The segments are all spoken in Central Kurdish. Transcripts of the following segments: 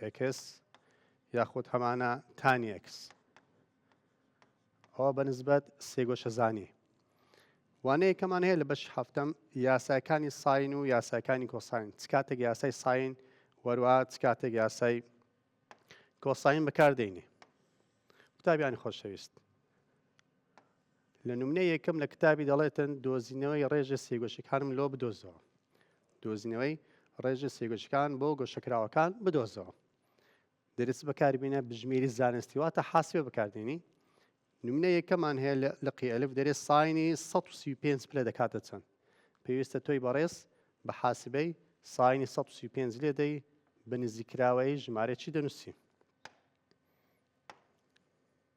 ئێکس یاخود هەمانە تانی ئێکس ئەوە بەنسبەت سێگۆشەزانی وانەیەکەمان هەیە لە بەش هەفتم یاساکانی ساین و یاساکانی کۆساین چ کاتێک یاسای ساین وەروە چ کاتێک یاسای کۆساین بەکاردێنی قوتابیانی خۆشەویست لە نمونەی یەکەم لە کتابی دەڵێتن دۆزینەوەی ڕێژە سێگۆشەکانم لۆ بدۆزەوە دۆزینەوەی ڕێژە سێگۆشەکان بۆ گۆشەکراوەکان بدۆزەوە دەرس بەکاربیینە بژمێری زانستی واتە حاسێ بەکاردێنی نمونە یەکەمان هەیە لە قیئلف دەرێ ساینی 135 پلە دەکاتە چەند پێویستە تۆی بەڕێز بە حاسبەی ساینی 135 لێ دەی بە نزیکراوەی ژمارەی چی دەنووسی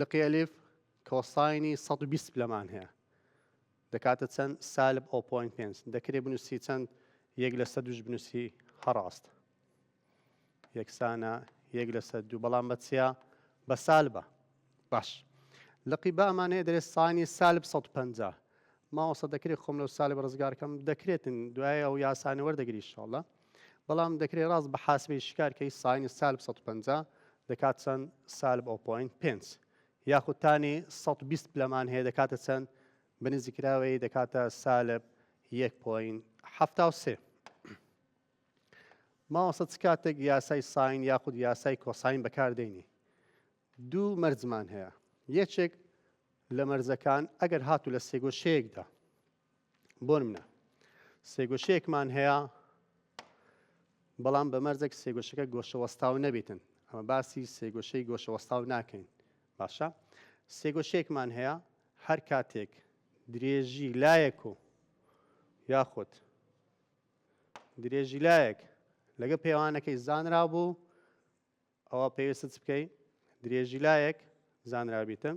لقی ئەلیف کۆساینی سەد و بیست پلەمان هەیە دەکاتە چەند سالب ئەو پۆین پێنج دەکرێ بنووسی چەند یەک لەسە دوش بنووسی هەڕاست یەکسانە یەک لەسە دوو بەڵام بەچیا بە سالبە باش لقی بامانەیە دەێت سانی سالب 150 ماوەسە دەکرێت خۆم لەو سالب ڕزگارکەم دەکرێتن دوای ئەو یاسانە وەردەگری شڵە بەڵام دەکرێت ڕاست بە حاسبی شکار کەی ساینی سالب سەد و پەنجا دەکات چەند سالب ئەو پۆینت پێنج یاخود تانی سەد و بیست پلەمان هەیە دەکاتە چەند بنزی کراوەی دەکاتە سالب یەک پۆینت حەفتا و سێ ماوەسە چ کاتێک یاسای ساین یاخود یاسای کۆساین بەکاردێنی دوو مەرزمان هەیە یەکێک لە مەرزەکان ئەگەر هاتو لە سێگۆشەیەکدا بۆنمنە سێگۆشەیەکمان هەیە بەڵام بە مەرزێک سێگۆشەکە گۆشە وەستاو نەبێتن ئەمە باسی سێگۆشەی گۆشە وەستاو ناکەین باشە سێگۆشەیەکمان هەیە هەر کاتێک درێژی لایەک و یاخود درێژی لایەک لەگە پێوانەکەی زانرا بوو ئەوە پێویست بکەی درێژی لایەک زانرابیتە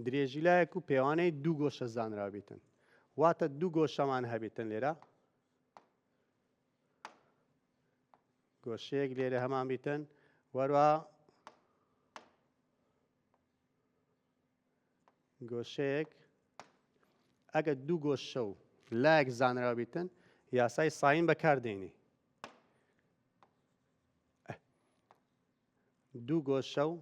درێژی لایەک و پێوانەی دوو گۆشە زانراوبیتن واتە دوو گۆشەمان هەبێتن لێرە گۆشەیەک لێرە هەمان بیتن وەروە گۆشەیەک ئەگە دوو گۆشە و لایەک زانراوە بیتن یاسای ساین بەکاردێنی دوو گۆشە و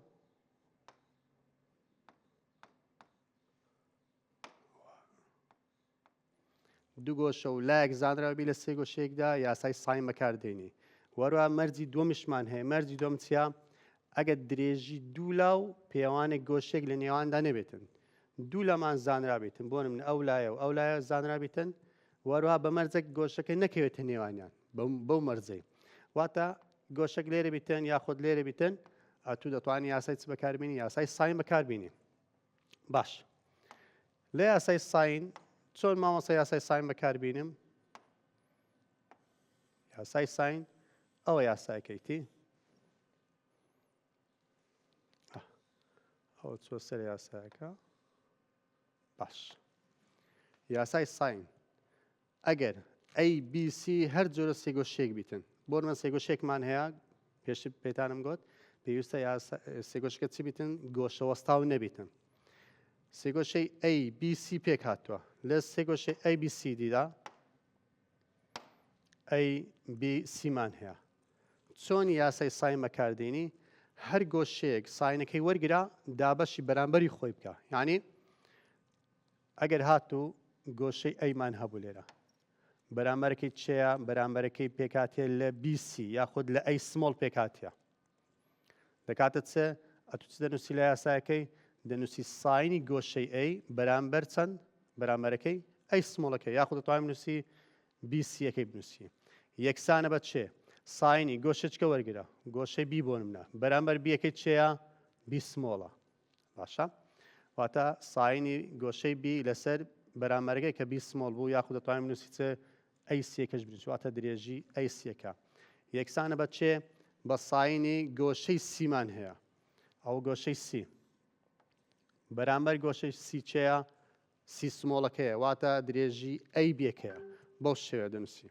دوو گۆشە و لایەک زانراوەبی لە سێ گۆشەیەکدا یاسای ساین بەکاردێنی وەروە مەرجی دووەمیشمان هەیە مەرجی دوم چیا ئەگەر درێژی دوولا و پێوانێک گۆشێک لە نێواندا نەبێتن دوو لەمان زانرابێتن بۆ من ئەو لایە و ئەو لایە زانرابێتن وەروها بە مەرجێک گۆشەکە نەکەوێتە نێوانیان بەو مەرجەی واتە گۆشەک لێرە بیتن یاخود لێرە بیتن ئەتو دەتوانانی یاسای چ بەکاربیێنی یاسای ساین بەکاربیێنی باش لە یاسای ساین چۆن مامەسە یاسای ساین بەکاربیێنم یاسای ساین ئەوە یاساکەیتی ئەو چۆ سەر یاساکە باش یاسای ساین ئەگەر ABC هەر جۆرە سێگۆشیەک بیتن بۆ من سێگۆشێکمان هەیە پێشتر پێتانم گوت پێویستە یا سێگۆشکە چی بیتن گۆشە وەستاو نەبیتن سێگۆشەی ABC پێک هاتووە لە سێگۆشەی ABCDدا ABCمان هەیە چۆن یاسای سای مەکاردینی هەر گۆشەیەک ساینەکەی وەرگرا دابەشی بەرامبەری خۆی بکە یعنی ئەگەر هاتوو گۆشەی ئەیمان هەبوو لێرە بەرامبەرەکەی چێە بەرامبەرەکەی پێکاتێ لە بیسی یاخود لە ئەی سمۆڵ پێکاتە دەکاتە چ ئەتوچ دەنووسی لە یاسایەکەی دەنووسی ساینی گۆشەی ئەی بەرامبەر چەند بەرامبەرەکەی ئەی سمۆڵەکە یاخود توانم نووسی بیسیەکەی بنووسی یەکسانە بە چێ ساینی گۆشەچکە وەرگرە گۆشەی بی بۆنمە بەرامبەر بیەکەی چێە بیسمۆڵە باشە واتە ساینی گۆشەی بی لەسەر بەرامەرگەی کە بی سمۆڵ بوو یاخود دەتوانین بنووسی چ ئەی سیەکەش بنووسی واتە درێژی ئەی سیەکە یەکسانە بە چێ بە ساینی گۆشەی سیمان هەیە ئەو گۆشەی سی بەرامبەر گۆشەی سیچەیە سی سمۆڵەکەیە واتە درێژی ئەی بێکەیە بەو شێوە دەنووسی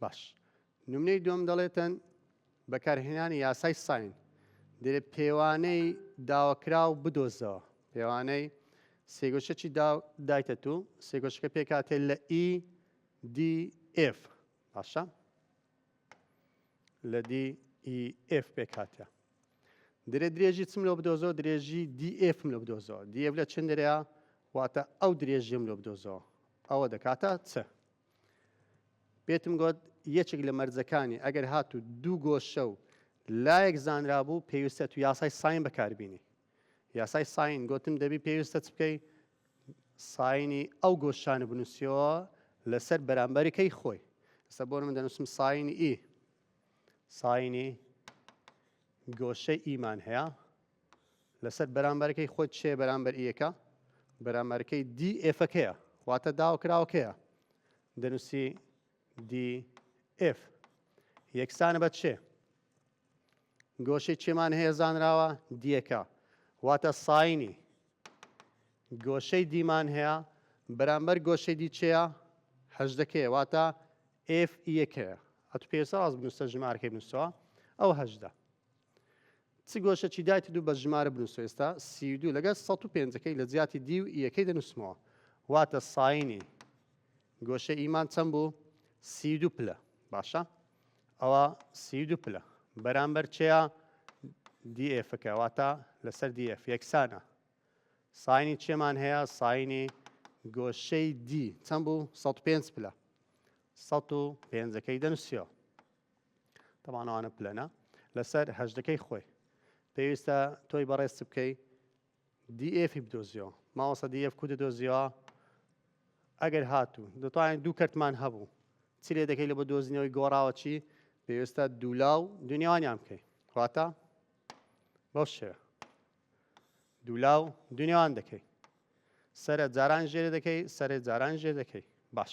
باش نمونەی دوم دەڵێتەن بەکارهێنانی یاسای ساین دەێ پێوانەی داواکراو بدۆزەوە پێوانەی سێگۆشەکی دایتە تو سێگۆشەکە پێکاتێ لە ئی دی ئف باشە لە DEF پێک هاتە درێ درێژی چم لۆ بدۆزەوە درێژی DF لۆ بدۆزەوە DF لە چند درێە واتە ئەو درێژیم لۆ بدۆزەوە ئەوە دەکاتە چ پێتم گوت یەکێک لە مەرجەکانی ئەگەر هاتوو دوو گۆشە و لایەک زانرا بوو پێویستە تو یاسای ساین بەکاربینی یاسای ساین گۆتم دەبی پێویستە چ بکەی ساینی ئەو گۆشانە بنووسیەوە لەسەر بەرامبەرەکەی خۆی ئستا بۆ من دەنووسم ساینی ئی ساینی گۆشەی ئیمان هەیە لەسەر بەرامبەرەکەی خۆت چێ بەرامبەر یەکە بەرامبەرەکەی دی ئفەکەیە واتە داوکراوەکەیە دەنووسی دی ئف یەکسانە بە چێ گۆشەی چێمان هەیە زانراوە دیەکە واتە ساینی گۆشەی دیمان هەیە بەرامبەر گۆشەی دی چێە هەژدەکەی واتە ئف یەکەیە ئەتو پێویستە ڕاست بنووسە ژمارەکەی بنووسەوە ئەو هەژدە چ گۆشە چی دایت دوو بە ژمارە بنووس ئێستا سی و دوو لەگەڵ 105ەکەی لە جیاتی دی و یەکەی دەنووسمەوە واتە ساینی گۆشە ئیمان چەند بوو سی دو پلە باشە ئەوا سی دوو پلە بەرامبەر چێە دی ئێفەکە واتە لەسەر دی ئێف یەکسانە ساینی چێمان هەیە ساینی گۆشەی دی چەند بوو 105 پلە 105ەکەی دەنووسیەوە تەمانەوانە پلەنە لەسەر هەشتەکەی خۆی پێویستە تۆی بەڕێز بکەی دی ئێفی بدۆزیەوە ماوەسە دی ئێف کو دەدۆزیەوە ئەگەر هاتوو دەتوانین دوو کەرتمان هەبوو چی لێ دەکەی لە بە دۆزینەوەی گۆڕاوە چی پێویستە دوولا و دنیاوانیان بکەی واتە بەو شێ دوولا و دنیاوان دەکەی سرە جاران ژێرە دەکەی سەرێ جاران ژێر دەکەی باش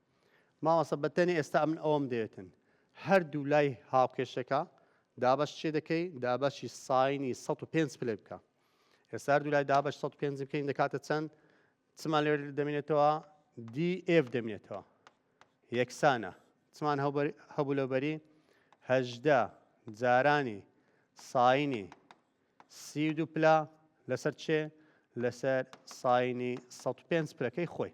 مامۆستا بەتەنێ ئێستا من ئەوەم دەێتن هەردوو لای هاوکێشەکە دابش چێ دەکەی دابشی ساینی 105 پلێ بکە ئێستا هەردوو لای دابش 105 بکەین دەکاتە چەند چمان لێ دەمێنێتەوە DF دەمێنێتەوە یەکسانە چمان هەبوو لەبەری هەژدە جارانی ساینی سی و دوو پلا لەسەر چێ لەسەر ساینی 105 پلەکەی خۆی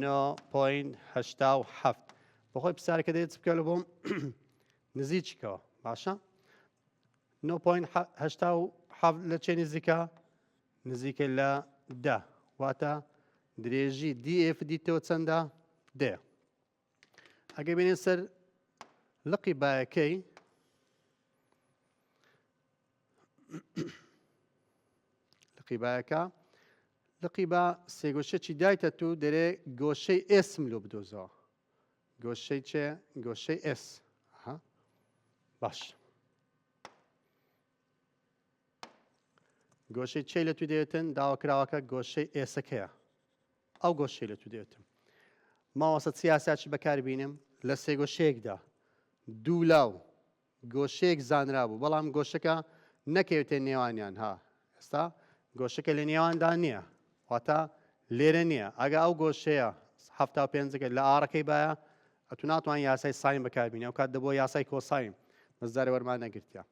نۆ پۆین هەشتا و حەفت بەخۆی پسارەکە دێت بکە لە بۆم نزیکەوە باشە نۆ پۆین هەشتا و حەفت لە چێ نزیکە نزیکە لە دە واتە درێژی دیF دیتەوە چەندە دێ ئەگەر بێنێ سەر لقی بایەکەی لقی بایەکە لقی با سێگۆشەی دایتە تو دەرێ گۆشەی ئێسم لۆ بدۆزەوە گۆشەی چێ گۆشەی ئێس باش گۆشەی چی لە تو دێتن داواکراوەکە گۆشەی ئێسەکەیە ئەو گۆشەی لە تو دێتم ماوەسە سیاسە چی بەکار بینم لە سێگۆشەیەکدا دوو لاو گۆشەیەک زانرا بوو بەڵام گۆشەکە نەکەوێتە نێوانیان ها ئێستا گۆشەکە لە نێواندا نییە واتە لێرە نییە ئەگە ئەو گۆشەیە هەفتا پێنجەکە لە ئارەکەی باە ئەتو ناتوان یاسای سایم بەکاربینە ئەو کات دەبوو یاسای کۆسایم مەزدارە وەرمان نەگرتیا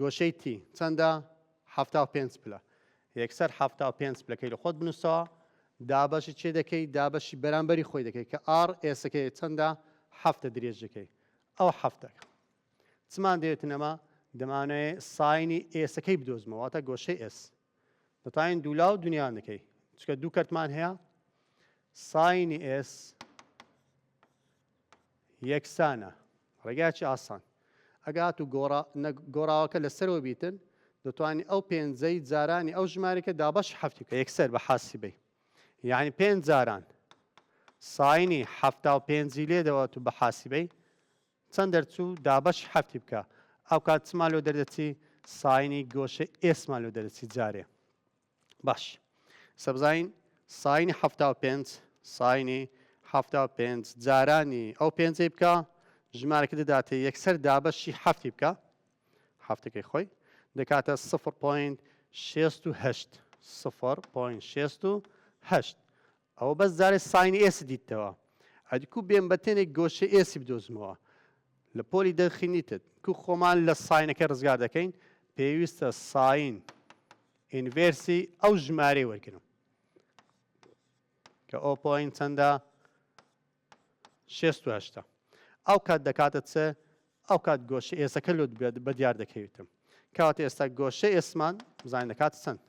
گۆشەی تی چەندە؟ حەفتا و پێنج پلە. یەکسەر حەفتا و پێنج پلەکەی لە خۆت بنووسەوە. دابەشی چێ دەکەی؟ دابەشی بەرامبەری خۆی دەکەی کە ئاڕ ئێسەکەی چەندە؟ حەفتە درێژیەکەی. ئەو حەفتەکە. چمان دەوێتن ئەمە؟ دەمانەوێ ساینی ئێسەکەی بدۆزمەوە، واتە گۆشەی ئێس. دەتوانین دوولا و دنیا نەکەی چکە دوو کەرتمان هەیە ساینی ئێس یەکسانە ڕێگاچی ئاسان ئەگات و گۆڕاوەکە لەسەرەوە بیتن دەتوانانی ئەو پێنجەی جارانی ئەو ژمارەکە دابش هەفتی کە یەکسەر بە حاسی بی یعنی پێنج جاران ساینی هەفتا و پێنجی لێدەوە تو بە حاسیبەی چەند دەرچوو دابەش حەفتی بکە ئەوکات چما لۆ دەردەچی ساینی گۆشەی ئێسما لۆ دەردەچی جارێ باش سەبزین ساینی حەفتا و پێنج ساینی حەفتا و پێنج جارانی ئەو پێنجەی بکە ژمارەکە دەداتێ یەکسەر دابەشی حەفتی بکە حەفتەکەی خۆی دەکاتە سفر پوین شێست و هەشت سفر پوین شێست و هەشت ئەوە بەس جارێ ساین ئێسی دیتەوە ئەدی کو بێم بە تێنێک گۆشەی ئێسی بدۆزمەوە لە پۆلی دەرخی نیتت کو خۆمان لە ساینەکە ڕزگار دەکەین پێویستە ساین ئینڤێرسی ئەو ژمارەی وەرگرم کە ئۆپۆین چەندە شێست و هەشتا. ئەو کات دەکاتە چ؟ ئەو کات گۆشە ئێسەکە لۆ دبێت بە دیار دەکەویتم. کەواتە ئێستا گۆشە ئێسمان بزانین دەکاتە چەند؟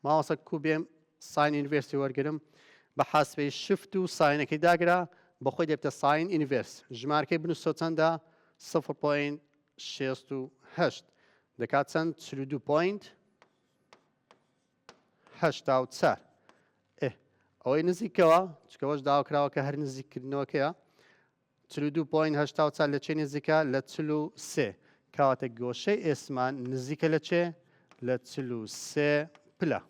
ماوەسە کو بێم ساین ئینڤێرسی وەرگرم بە حاسبەی شفت و ساینەکەی داگرا بە خۆی دەبتە ساین ئینڤێرس ژمارکەی بنووسەوە چەندە سفر پۆین شێست و هەشت دەکات چەند چل و دوو پۆینت هەشتا و چار ئێ ئەوەی نزیکەوە چکەوەش داوا کراوە کە هەر نزیککردنەوەکەیە چل و دوو پۆین هەشتا و چار لە چێ نزیکە لە چل و سێ کەواتە گۆشەی ئێسمان نزیکە لە چێ لە چل و سێ پلە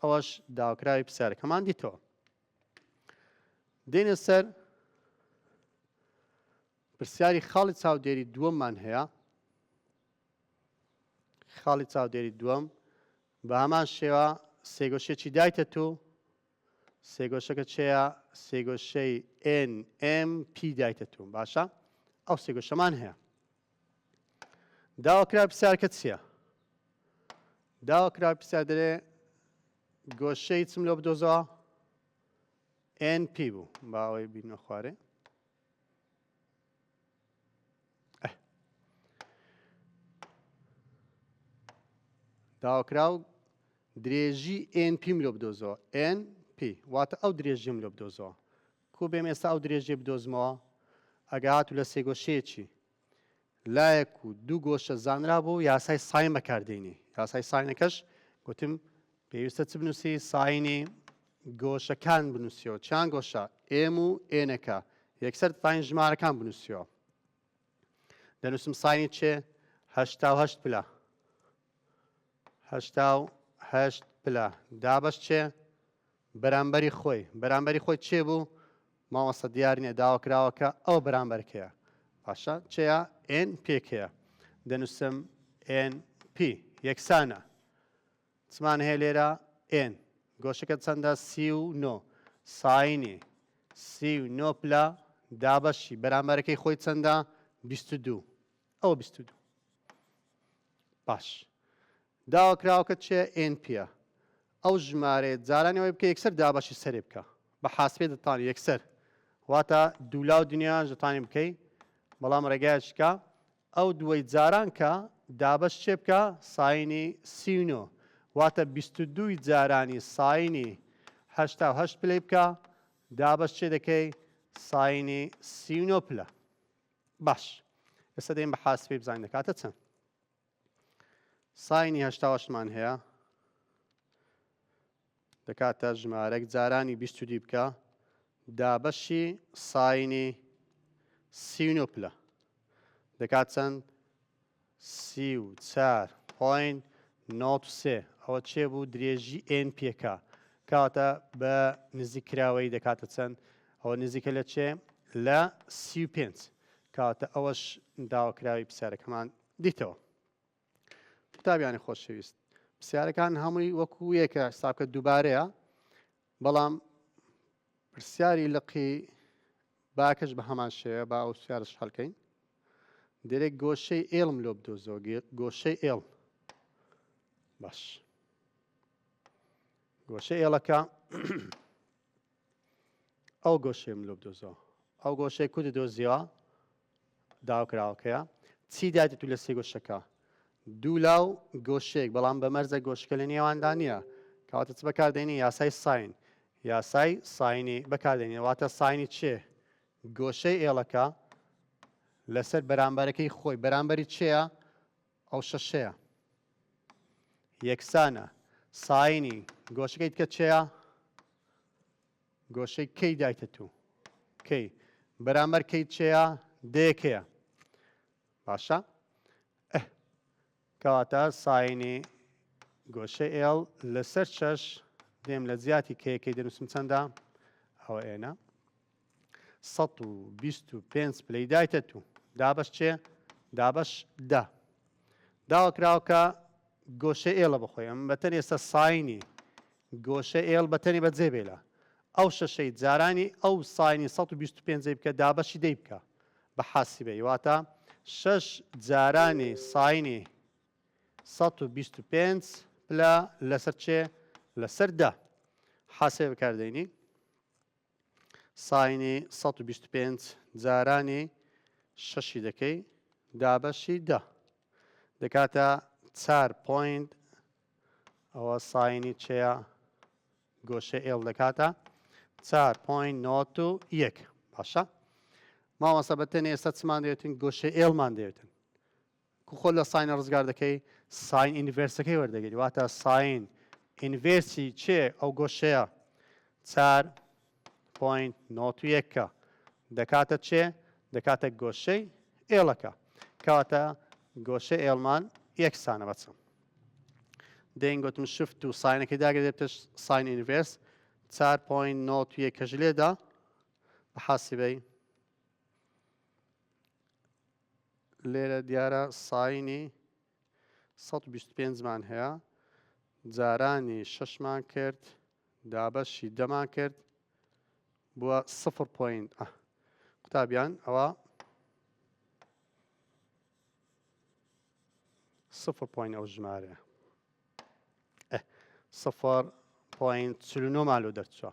ئەوەش داواکراوی پرسیارەکەمان دیتەوە دێنە سەر پرسیاری خاڵی چاودێری دووەممان هەیە خاڵی چاودێری دووەم، بە هەمان شێوە سێگۆشەیەکی دایتە تو، سێگۆشەکە چێە؟ سێگۆشەی NMP دایتە تو، باشە ئەو سێگۆشەمان هەیە. داواکرا پرسیارکە چییە؟ داواکرا پرسیار دەرێ گۆشەی چم لۆ بدۆزەوە؟ NP بوو با ئەوەی بینە خوارێ. داواکراو درێژی ئێن پی مرۆ بدۆزەوە ئێن پی واتە ئەو درێژی مرۆ بدۆزەوە کو بێم ئێستا ئەو درێژێ بدۆزمەوە ئەگات و لە سێگۆشەیەکی لایەک و دوو گۆشە زانرا بۆ یاسای ساین بەکاردێنی یاسای ساینەکەش گوتم پێویستە چ بنووسی؟ ساینی گۆشەکان بنووسیەوە چیان گۆشە ئێم و ئێنەکە یەکسەر ساین ژمارەکان بنووسیەوە دەنووسم ساینی چێ هەشتا و هەشت پلە هەشتا و هەشت پلە دابەش چێ بەرامبەری خۆی بەرامبەری خۆی چێ بوو ماوەسە دیار نیە داوا کراوەکە ئەو بەرامبەرکەیە باشە چێە ئێن پێکەیە دەنووسم ئێن پی یەکسانە چمان هەیە لێرە ئێن. گۆشەکە چەندە سی و نۆ. ساینی سی و نۆ پلە دابەشی بەرامبەرەکەی خۆی چەندە بیست و دوو. ئەوە بیست و دوو. باش. داواکراوەکە چێ ئێن پیە. ئەو ژمارەیە جارانی ئەوەی بکە یەکسەر دابەشی سەرێ بکە. بە حاسبێ دەتانی یەکسەر. واتە دوولا و دنیایان دەتانی بکەی. بەڵام ڕێگایەک بکە ئەو دووەی جاران کە، دابەش چێ بکە ساینی سی و نۆ واتە بیست و دووی جارانی ساینی هەشتا و هەشت پلەی بکە، دابەش چێ دەکەی ساینی سی و نۆ پلە. باش ئێستا دەین بە حاسبی بزانین دەکاتە چەند. ساینی هەشتا و هەشتمان هەیە دەکاتە ژمارەک جارانی بیست و دیبکە دابەشی ساینی سی و نۆ پلە دەکات چەند سی و چار پۆین نۆت و سێ ئەوە چێ بوو درێژی ئێن پێکا کاتە بە نزیک کراوەی دەکاتە چەند ئەوە نزیکە لە چێ لە سی و پێنج کاتە ئەوەش داواکراوی پرسیارەکەمان دیتەوە قوتابیانی خۆشەویست پرسیارەکان هەمووی وەکو یەکە حسابکە دووبارەیە بەڵام پرسیاری لقی باکەش بە هەمان شێوە با ئەو سیارش هەلکەین دەرێک گۆشەی ئێڵم لۆ بدۆزۆ گۆشەی ئێڵ باش گۆشە ئێڵەکە ئەو گۆشەی مرۆڤ دۆزیەوە. ئەو گۆشەی کورد دۆزیەوە داوکراوەکەیە چی دایتتو لە سێ گۆشەکە دوو لاو گۆشەیەک بەڵام بە مەرزە گۆشکە لە نێواندا نییە کەواتە چ بەکاردێنی یاسای ساین یاسای ساینی بەکاردێنی واتە ساینی چێ گۆشەی ئێڵەکە لەسەر بەرامبەرەکەی خۆی بەرامبەری چێە ئەو شەشەیە یەکسانە ساینی گۆشەکەی بکە چێە گۆشەی کەی دایتە تو کەی بەرامەر کەی چێە دەیەکەیە باشە کەواتە ساینی گۆشەی ئێڵ لەسەر شەش دێم لە زیاتی کەیەکەی دەنووسم چەندە ئەوە ئێنە سەد و بیست و پێنج پلەی دایتە تو دابەش چێ دابەش دە داوە کراوکە گۆشە ئێڵە بخۆی ئەم بەتەن ئێستا ساینی گۆشە ئێڵ بەتەنی بەجێ بێلە ئەو شەشەی جارانی ئەو ساینی 125 بکە دابەشی دەی بکە بە حاسیبەی واتە شەش جارانی ساینی 125 پلە لەسەر چێ لەسەر دە حاسێ بکاردەینی ساینی سەد و بیست و پێنج جارانی شەشی دەکەی دابەشی دە دەکاتە چار پۆینت ئەوە ساینی چەیە گۆشە ئێڵ دەکاتە چار پۆین نۆت و یەک باشە ماوەسە بە تەنێ ئێستا چمان دەێتن گۆشە ئێڵمان دەێتن کو خۆت لە ساینە ڕزگار دەکەی ساین ئینڤێرسەکەی وەردەگری واتە ساین ئینڤێرسی چێ ئەو گۆشەیە چار پۆینت نۆت و یەکە دەکاتە چێ دەکاتە گۆشەی ئێڵەکە کەواتە گۆشە ئێڵمان یەکسانە بەچم دەین گوتم شفت و ساینەکەی داگرێتش ساین ئینڤێرس چار پۆین نۆت و یەکەش لێدا بە حاسیبەی لێرە دیارە ساینی سەد و بیست و پێنج مان هەیە جارانی شەشمان کرد دابەشی دەمان کرد بووە سفر پۆین قوتابیان ئەوە سفر پۆین ئەو ژمارە سفر پۆین چلونۆمان لۆ دەرچوە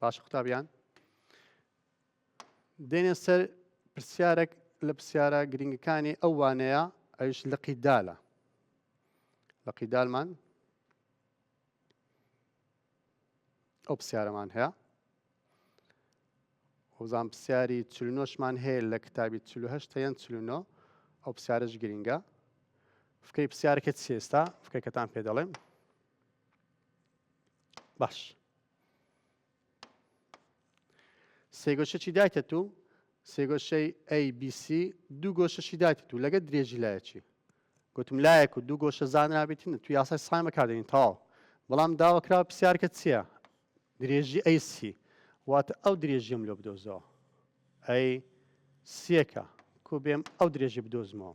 باش قوتابیان دێنێ سەر پرسیارێک لە پرسیارە گرنگەکانی ئەو وانەیە ئەوش لقی دالە لقی دالمان ئەو پرسیارەمان هەیە وزان پرسیاری چلنۆشمان هەیە لە کتابی چلوهشت یان چلونۆ ئەو پرسیارش گرنگە فکری پرسیارەکە چێستا فکرەکەتان پێ دەڵێم باش سێ گۆشەچی دایتە تو سێ گۆشەی ABC دوو گۆشەشی دایتە تو لەگە درێژی لایەکی گوتم لایەک و دوو گۆشە زانرابێتن تو یاسای سایم بەکاردێنین تەواو بەڵام داواکرا پرسیارکە چییە درێژی AC واتە ئەو درێژیم لۆ بدۆزەوە ئەی سیەکە کو بێم ئەو درێژی بدۆزمەوە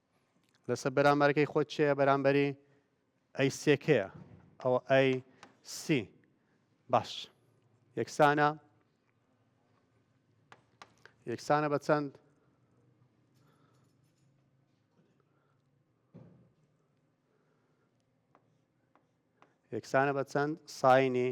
لەسەر بەرامبەرەکەی خۆت چێە بەرامبەری ئەی سێکەیە ئەوە ئەی سی باش یەکسانە یەکسانە بە چەند یەکسانە بە چەند ساینی